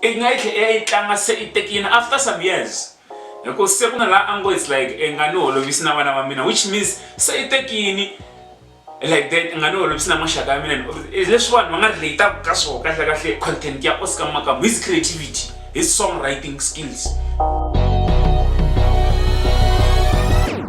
i nga yi tlhe i ya yi tlanga se i tekile after some years hi ku se ku na laha a ngo it's like i nga ni holovisi na vana va mina which means se i tekini like that i nga ni holovisi na maxaka ya mina leswi vanhu va nga relateku ka swona kahle kahle content ya oscar makamu his creativity his song writing skills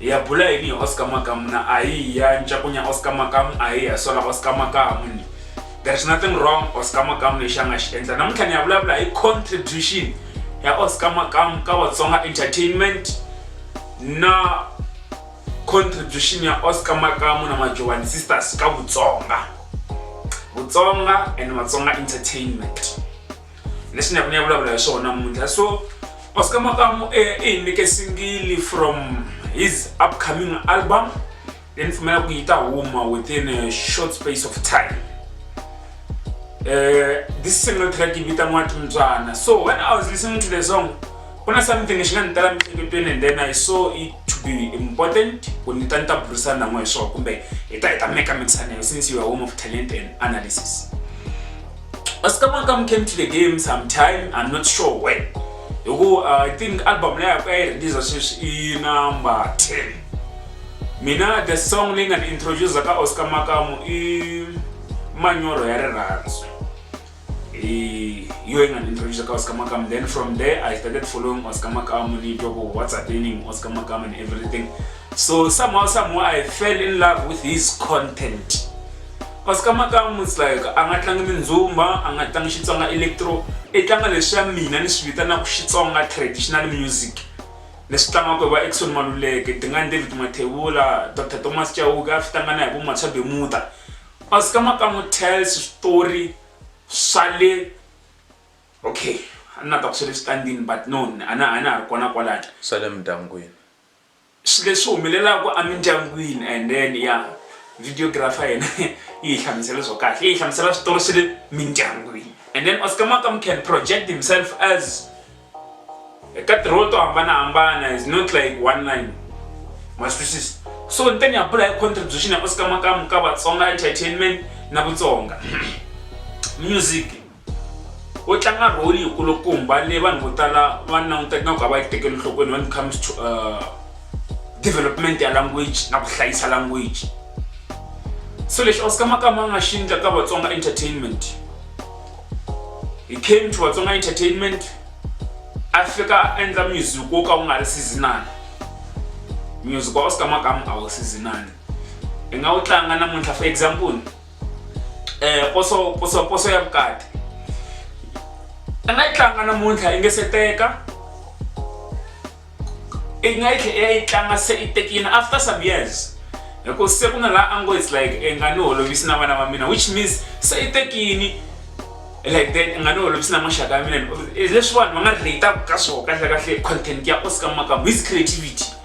ya bula yini hi oscar makamu na ahiya ncakunya oscar makamu ahiya sola oscar makamu ni there is nothing wrong oscar makamu lexi a nga xi endla namuntlha ni ya vulavula hi contribution ya oscar makamu ka vatsonga entertainment na contribution ya oscar makamu na majovani sisters ka vutsonga vutsonga and vatsonga entertainment leswi ni ya ku ni ya vulavula hi swona namuntlha so oscar makamu i hi nyike singili from his upcoming album leyi ni pfumela ku yi ta huma within a short space of time uh, this single track vitaniwa timtswana so when i was listening to the song ku na something xi nga ni tala miehleketweni and then i saw it to be important ku ni ta ni ta burisana n'we hi swona kumbe hi ta hi ta meka mixana since you are home of talent and analysis Kasi ka Makam came to the game sometime, I'm not sure when. Hikuva uh, I think album leyi yaku a yi release sweswi i number 10. Mina the song leyi nga ni introduce ka Oscar Makamu i Manyoro ya rirhandzu. I yo yi nga ni introduce ka Oscar Makamu. Then from there I started following Oscar Makamu ni twa ku what's happening Oscar Makamu and everything. So somehow somehow I fell in love with his content. Kasi ka makamu it's like a nga tlangi mindzumba, a nga tlangi Xitsonga electro, i tlanga leswiya mina ni swi vitanaka Xitsonga traditional music leswi tlangiwaka hi va Eckson Maluleke, Dingani David Mathebula, Doctor Thomas Chauke a swi tlanga na hi vo Matswa Bemuda. Kasi ka makamu tells switori swa le okay a ni lava ku ta ku swa le switandini but no a na a na ha ri kona kwalaya. Swa le mindyangwini. Swi leswi humelelaka emindyangwini and then ya videographer yena yi hi hlamusela swo kahle yi hi hlamusela switori swa le mindyangwini and then Oscar Makam can project himself as eka tirholo to hambanahambana is not like one line ma swi twisisa so ni ta ni ya bula hi contribution ya Oscar Makam ka Vatsonga entertainment na Vutsonga music u tlanga rholi yi kulukumba leyi vanhu vo tala va langutaka nga ku a va yi tekeli nhlokweni when it comes to uh, development ya language na ku hlayisa language so lexi oscar makama a nga xi endla ka vatsonga entertainment he came to vatsonga entertainment a fika a endla music wo ka wu nga ri seasonal music wa oscar makama a wu seasonal i nga wu tlanga namuntlha for example eh, poso poso poso ya vukati a nga yi tlanga namuntlha yi nge se teka i nga yi tlhe ya yi tlanga se i tekile after some years hikuva se ku na laha a ngo it's like i nga ni holovisi na vana va mina which means se i tekini like that i nga ni holovisi na maxaka ya mina leswi vanhu va nga relate-aka ka swona kahle kahle content ya oscar makamu his creativity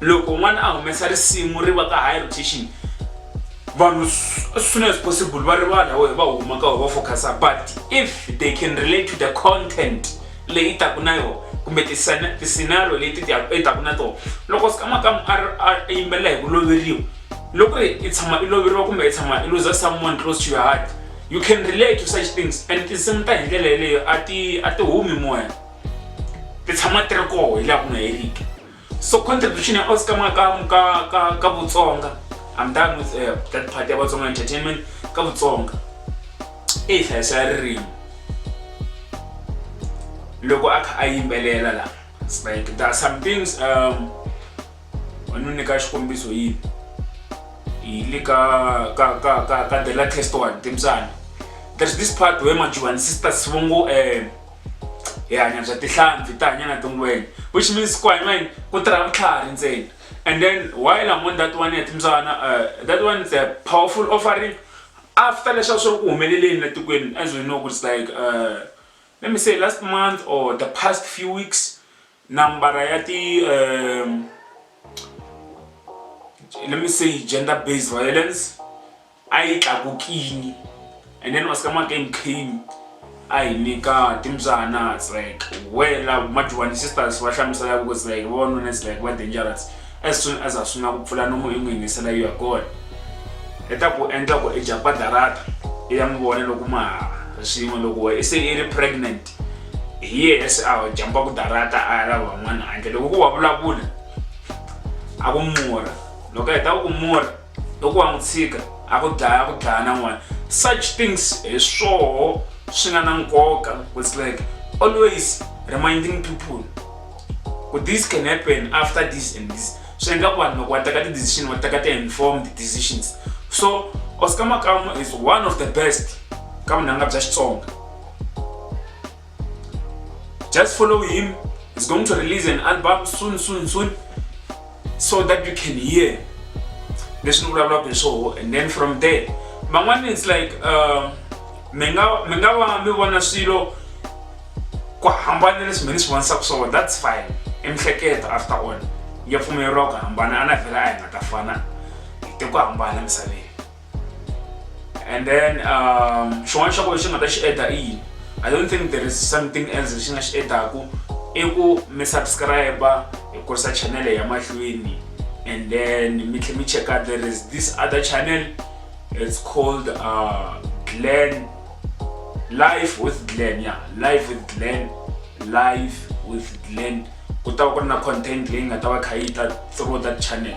loko n'wana a humesa risimu ri va ka high rotation vanhu as soon as possible va rivala wehe va huma ka va focusa but if they can relate to the content leyi taku na yona kumbe tiscenario leti i taku na tona loko sikamakamu a yimbelela hi ku loveriwa loko ri i tshama i loveriwa kumbe i tshama i lose someone close to your heart you can relate to such things and tinsimu ta hi ndlela yeleyo a ti a ti humi moya ti tshama ti ri koho hi laha ku nga heriki So contribution ya Oscar Makamu ka ka ka Botsonga. I'm done with uh, that part ya Botsonga entertainment ka Botsonga. Eyi hlayiso ya ririmi. Loko a kha a yimbelela la. It's like there are some things um wanu ni ka xikombiso yini. Hi le ka ka ka ka ka the latest one Timsana. There's this part where Majuban sisters vongo eh hi hanya bya tihlampfi ta hanya na tingwenya which means ku hanya yini ku tirha vutlhari ntsena and then while I'm on that one ya timbyana uh, that one is a powerful offering after leswaku swi ri ku humeleleni la tikweni as we know ku it's like uh, let me say last month or the past few weeks Nambara ya ti let me say gender based violence a yi tlakukile and then Oscar Mackay came a hi nyika timbyana it's like where la majority sisters va hlamusela ku it's like vavanuna it's like va dangerous as soon as a sungula ku pfula nomu i n'wi yingisela you are gone i ta ku endla ku i dya padarata i ya n'wi vona loko ma ha ri swin'we loko se i ri pregnant yes a jamba ku darata a ra van'wana handle loko ku wa vulavula a ku murha loko a heta ku ku murha loko wa n'wi tshika a ku dlaya a ku dlaya na n'wana such things hi swoho swi nga na nkoka it's like always reminding people ku this can happen after this and this swi endla ku vanhu loko va teka ti-decision va teka ti-informed decisions so oscar makamu is one of the best ka vunanga bya xitsonga Just follow him. He's going to release an album soon, soon, soon, so that you can hear. This new blah and so, and then from there, my one is like, uh, menga menga wa mi vona swilo ku hambana leswi mina swi vonisaka swona that's fine i mihleketa after all ya pfumeleriwa ku hambana a na vhela a hi nga ta fana hi te ku hambana misaveni and then um, xin'wana xa kona xi nga ta xi eda i yini i don't think there is something else lexi nga xi edaku i ku mi subscribe hi kurisa channel ya mahlweni and then mi tlhe mi checka there is this other channel it's called uh, glen life with glen ya yeah. life with glen life with glen ku ta va ku ri na content leyi nga ta va kha yi ta through that channel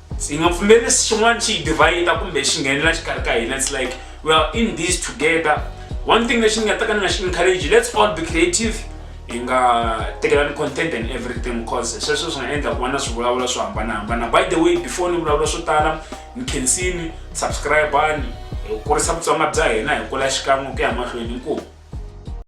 hi nga pfumeli xin'wana xi hi divhayida kumbe xi nghenela xikarhi ka hina it's like we are in this together one thing lexi ni nga ta ka ni nga xi encourage let's all be creative hi nga tekelani content and everything because sweswo swi nga endla ku va na swivulavula swo hambanahambana by the way before ni vulavula swo tala ni khensini subscribani hi kurisa vutsonga bya hina hi kula xikan'we ku ya mahlweni inkomu